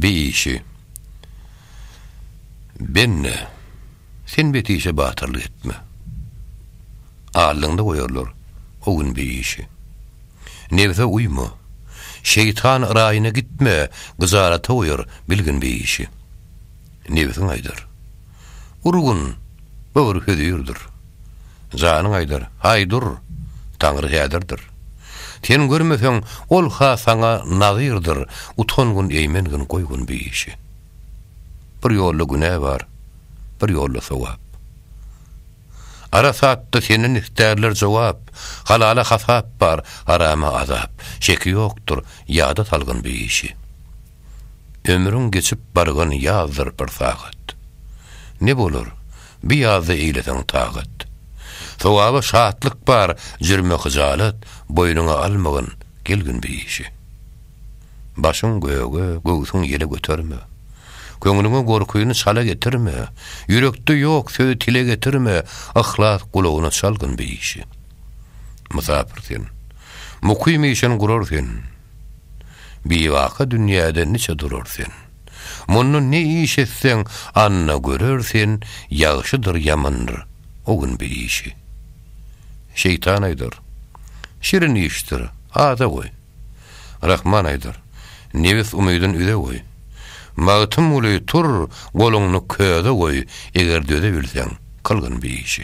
Bi işi. Benne, sen bet işe batyrlyk etme. Aldyňda goýarlar o gün bi işi. Nebse uýma. Şeýtan yraýyna gitme, gyjarata goýar bilgin bi işi. nebsiň aýdar. Urgun, böwür hözirdir. Janyň aýdar, Haý, dur! Taňry häzirdir. Sen görmeseň, ol-ha saňa nazyrdyr, Utangyn, eýmengin, goýgyn bu işi. Bir ýolda günä bar, bir ýolda sogap. Arasatda senden istärler jogap, Halala hasap bar, harama azap. Şeki ýokdur, ýada salgyn bu işi. Ömrüň geçip bargan ýazdyr bir sagat. Ne bolar, bi ýazda eýleseň tagat. Sogaba şatlyk bar, jürme hyjalat, Boýnuňa almagyn, gel gün bir işi. Başyň göge, göwsüň ýele göterme. Köňlüňe gorkyny çala getirme, Ýürekde ýok sözi tile getirme, Yhlas gulagyna çal gün bir işi. Mysapyr sen, mukym işin gurar sen. Bibaka dünýäde niçe durar sen? Mundan ne iş etseň, anna görer sen, Ýagşydyr, ýamandyr, o gün bir işi. Şeýtan aýdar, Şirin işdir, ada goý! Rahman aýdar, Nebis umydyn üze goý! Magtymguly, Tur, goluňny köze goý, Eger döze bilseň, kylgyn bir işi.